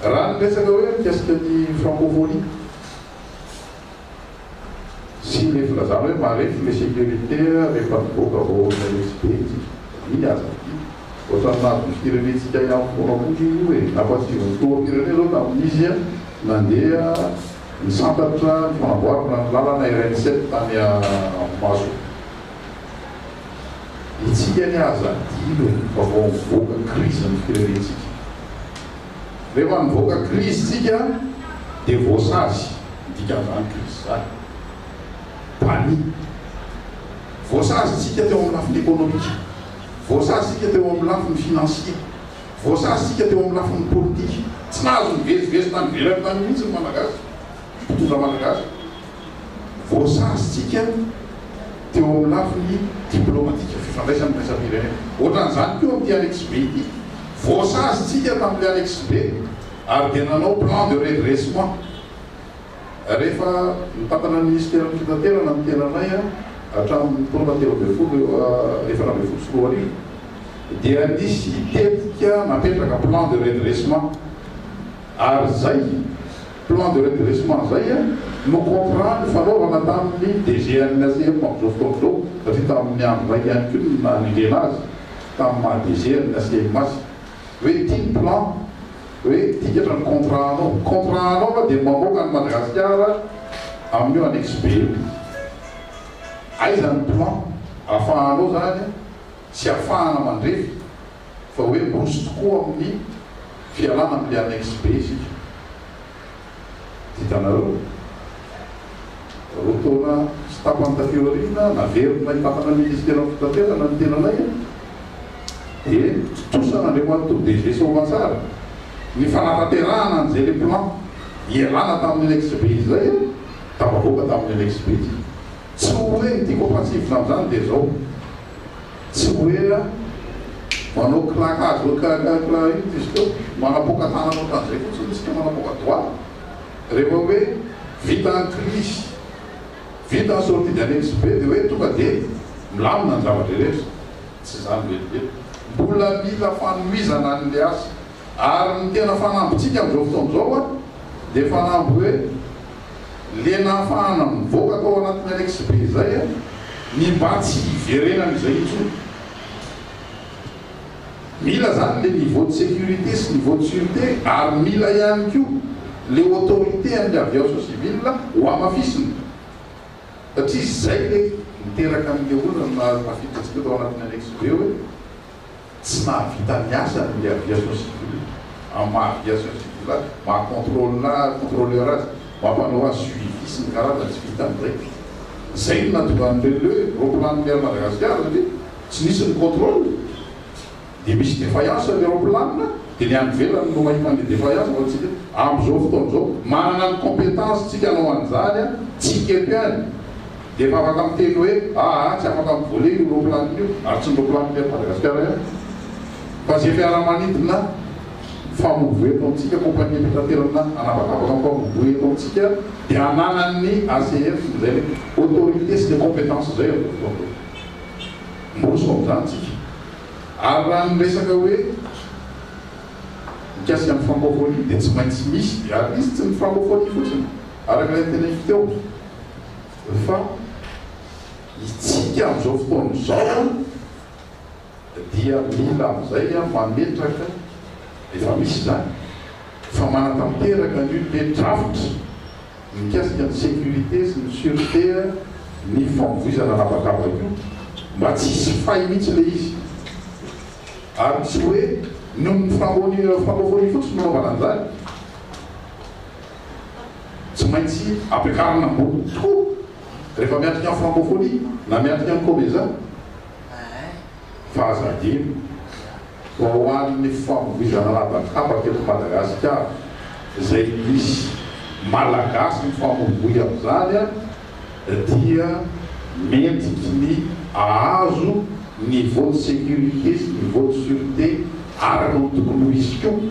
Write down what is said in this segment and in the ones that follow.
Raha ny resaka hoe mikasika ny francophonie sy le filazana hoe marefo le sécurité rehefa mivoaka vao miha-resy be tsika. Iny aza ity ohatran'ny nahazo ny firenentsika ihany foana koa iny io e! Nampantsivy ny filoham-pirenena zao tamin'izy nandeha nisantatra ny fanamboarana ny lalana RN sept tany Ampemaso. Isika anie aza adino fa vao mivoaka krizy ny firenentsika. Rehefa nivoaka krizy isika dia voasazy, ny dikan'izany krizy izany, banni. Voasazy isika teo amin'ny lafiny ekonomika, voasazy isika teo amin'ny lafiny finansie, voasazy isika teo amin'ny lafiny politika. Tsy nahazo nivezivezy tany ivelany tany mihitsy ny Malagasy. mpitondra malagasy voasazintsika teo amin'ny lafiny diplaomatika, fifandraisana iraisam-pirenena. Ohatran'izany koa amin'ity Annexe B ity. Voasazintsika tamin'ilay Annexe B ary dia nanao plan de redressement. Rehefa nitantana ny Minisiteran'ny Fitaterana ny tenanay hatramin'ny taona telo ambin'ny folo, efatra ambin'ny folo sy roa arivo dia nisy tetika napetraka, plan de redressement, ary izay. Plan de redressement izay no contrat nifanaovana tamin'ny DGNSM amin'izao fotoana izao satria tamin'ny andro iraika ihany koa no nanendrena azy tamin'ny maha DGNSM azy. Hoe ity ny plan, hoe tikatra ny contrat anao. Contrat anao aho dia mamoaka an'i Madagasikara amin'io annexe B io. Aiza ny plan ahafahanao izany tsy afahana mandrefy. Fa hoe bourse tokoa amin'ny fialana amin'ny annexe B isika. Hitanareo? Roa taona sy tapany taty aoriana, naverin'ilay mpakana minisiteran'ny fitaterana ny tenanay an! Dia tontosa an'Andriamatoa DG Soavatsara ny fanatanterahana an'izay ilay plan hialana tamin'ny annexe B izay an! Tafavoaka tamin'ny annexe B isika. Tsy ho ela ity koa fa tsivona amin'izany dia izao. Tsy hoe manao claquage hoe karakaraka io diso teo, manapoaka tanana ohatran'izay fotsiny isika, manapoaka doigt, rehefa hoe vita ny crise, vita ny sortie d'annexe be dia hoe tonga dia milamina ny zavatra rehetra, tsy izany velively, mbola mila fanohizana an'ilay asa, ary ny tena fanambintsika amin'izao fotoana izao dia fanamby hoe le nahafahana nivoaka tao anatin'ny annexe be izay an, ny mba tsy hiverenany izay intsony. Mila zany le niveau de sécurité sy niveau de sûreté ary mila ihany koa le autorité an'ny aviation civile hohamafisina satria zay le niteraka an'le olana naha tafiditra antsika tao anatin'ny annexe be hoe, Tsy mahavita ny asany ny aviation civile, amin'ny maha aviation civile azy, maha contrôle contrôleur azy, mampanao azy suivi sy ny karazany tsy vitany indray. Izay no nahatonga an'i le le roaplanon'i Air Madagascar satria tsy nisy ny contrôle dia misy défaillance ny roaplanona dia ny any ivelany no mahita an'le défaillance fa tsika amin'izao fotoana izao manana ny compétence tsika hanao an'izany an, tsika eto ihany. Dia vavaka miteny hoe, aa, tsy afaka mivola io ropilanina io, ary tsy ny ropilanin'i Air Madagascar ihany, fa izay fiaramanidina mifamoivoy eto amintsika, compagnie fitaterana anabakabaka mifamoivoy eto amintsika, dia ananan'ny ACF izay le autorité sy le compétence izay amin'izao fotoana izao. Miroso amin'izany tsika. Ary raha ny resaka hoe mikasika ny francophonie dia tsy maintsy misy, ary izy tsy ny francophonie fotsiny, araka ilay noteneiko teo. fa itsika amin'izao fotoana izao dia mila amin'izay mametraka, efa misy izany, fa manatanteraka ny hoe drafitra mikasika ny sécurité sy ny sûreté ny famoizana an'habakabaka io mba tsy hisy fay mihitsy ilay izy ary tsy hoe noho ny fanaovana io fotsiny no nanaovana an'izany. Tsy maintsy ampiakarina ambony tokoa rehefa miatrika ny francophonie na miatrika ny comeza fa aza adino fa ho an'ny famoizana an'habakabaka eto Madagasikara izay misy Malagasy mifamoivoy amin'izany dia mentiky ny ahazo niveau de sécurité sy niveau de sûreté ary noho ny tokony ho izy koa.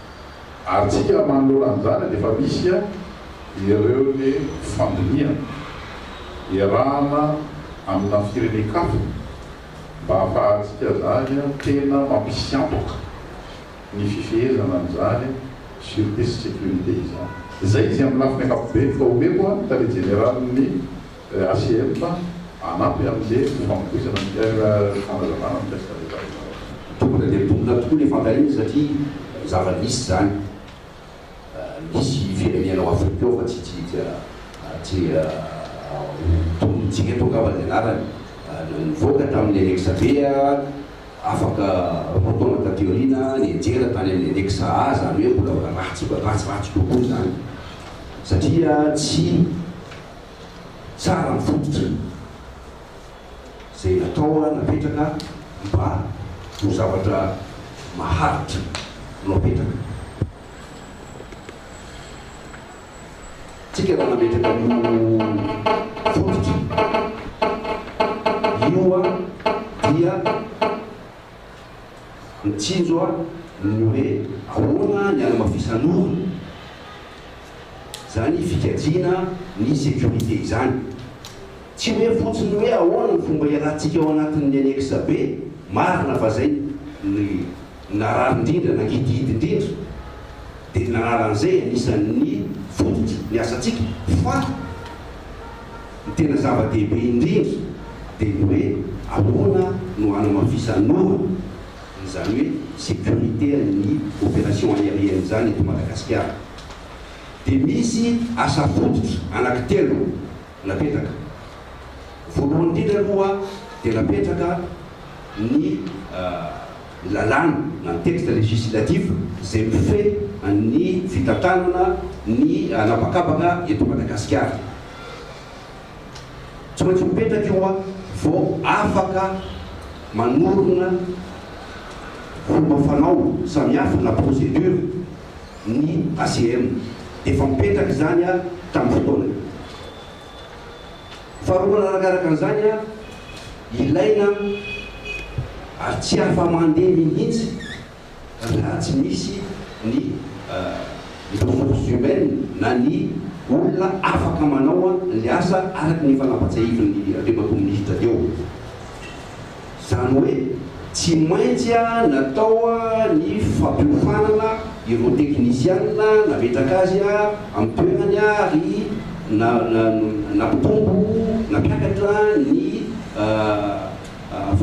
Ary tsika manoloana an'izany dia efa misy ihany ireo le fandinihana iarahana amina firenen-kafa mba hahafahantsika zany tena mampisy antoka ny fifehezana an'izany surete sy securite izany. Izay izy amin'ny lafiny ankapobeny ka omeko ny tale jeneralin'ny. Racm fa hanampy amin'izay ny famotoizana ny Ter fanazavana mikasika an'ilay tafika vaovao. Tonga dia tonga tokoa ny fankaherina satria zava-nisy izany. Nisy firenena ao Afrika ao fa tsy tsy tsy tonony tsy eto angamba ny anarany, nivoaka tamin'ny annexe B, afaka roa taona taty aoriana nianjera tany amin'ny annexe A, izany hoe mbola ratsy ratsy ratsy kokoa izany satria tsy. tsara ny fototry ny izay natao napetraka mba ho zavatra maharitra no apetraka tsika raha nametraka an'io fototra io dia Mitsinjo aho ny hoe ahoana ny anamafisan'ora izany fikajiana ny sécurité izany. Tsy hoe fotsiny hoe ahoana ny fomba ialatsika ao anatin'ny annexe B, marina fa izay no narary indrindra na ngidihidy indrindra dia ny narary an'izay anisan'ny fototry ny asantsika fa, Ny tena zava-dehibe indrindra dia ny hoe ahoana no hanamafisanora, izany hoe sécurité an'ny opération aérienne izany eto Madagasikara. Dia misy asa fototra anankitelo napetraka. Voalohany indrindra aloha dia napetraka ny lalàna na ny texte législatif izay mifehy ny fitantanana ny an'habakabaka eto Madagasikara. Tsy maintsy mipetraka io an, vao afaka manorina fomba fanao samihafa na procédure ny ACM. Efa mipetraka izany an tamin'ny fotoanany. Faharoa manarakaraka an'izany an, ilaina ary tsy afa-mandeha mihitsy. raha tsy misy ny ressources humaines na ny olona afaka manao an'ilay asa araka ny efa nampatsiahivin'ny Andriamatoa Minisitra teo. Izany hoe tsy maintsy natao ny fampiofanana ireo teknisiana nametraka azy amin'ny toerany ary nampitombo, nampiakatra ny.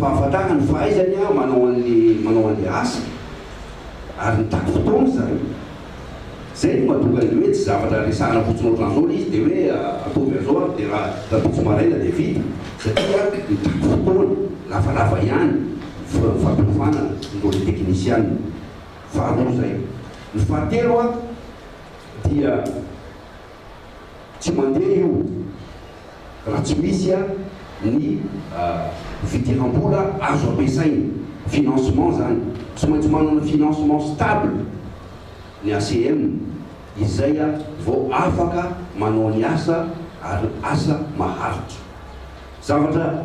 fahafantarana ny fahaizany manao an'le manao an'le asa ary mitaky fotoana zany zay no mahatonga an'le hoe tsy zavatra resahana fotsiny otran'zao le izy de hoe ataovy an'zao ary de raha raha tojo maraina de vita satria mitaky fotoana lavalava ihany ny fampiofanana noho le teknisianina faharoa zay ny fahatelo dia Tsy mandeha io raha tsy misy a ny fidiram-bola azo ampiasaina, financement zany. Tsy maintsy manana financement stable ny ACM izay a vao afaka manao ny asa ary asa maharitra. Zavatra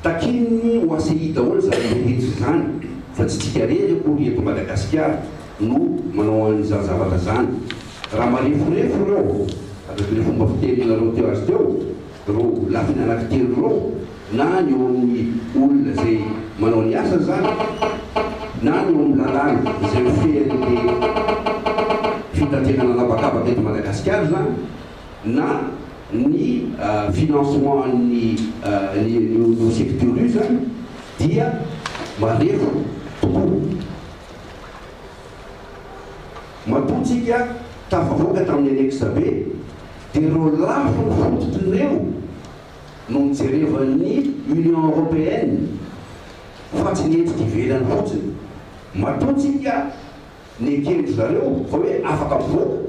takian'ny OACI daholo zany rehetra izany fa tsy tsika rery akory eto Madagasikara no manao an'izany zavatra zany. Raha mareforefo ireo, araka ilay fomba fiteninareo teo azy teo, ireo lafiny anankitelo ireo, na ny eo amin'ny olona izay manao ny asa izany, na ny eo amin'ny lalàna izay mifehy an'ity fitaterana an'habakabaka eto Madagasikara izany, na ny financement an'ny an'io secteur io izany, dia marefo tokoa. Matoa tsika tafavoaka tamin'ny anexa B dia ireo lafiny fototry ireo no nojerevan'ny Union Européenne fa tsy ny hetsika ivelany fotsiny. Matoa tsika nekeny zareo fa hoe afaka mivoaka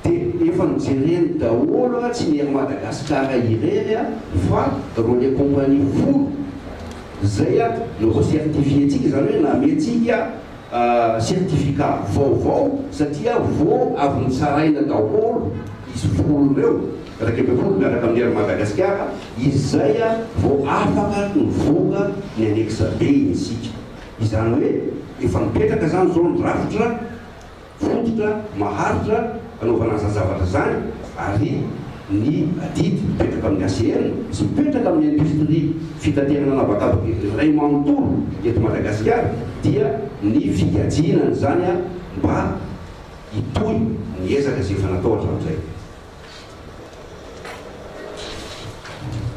dia efa nojereny daholo tsy ny Air Madagascar irery fa ireo les compagnies folo izay no re-certifier-tsika izany hoe nameha-tsika certificat vaovao satria vao avy notsaraina daholo izy folo ireo, iraika ambin'ny folo miaraka amin'ny Air Madagasikara, izay vao afaka nivoaka ny annexe B isika. Izany hoe efa mipetraka izany izao ny drafitra fototra maharitra. hanaovana an'izany zavatra izany ary ny adidy mipetraka amin'ny ACM sy mipetraka amin'ny indostria fitaterana an'habakabaka iray manontolo eto Madagasikara dia ny figatsiana an'izany mba hitohy ny ezaka izay efa natao hatramin'izay.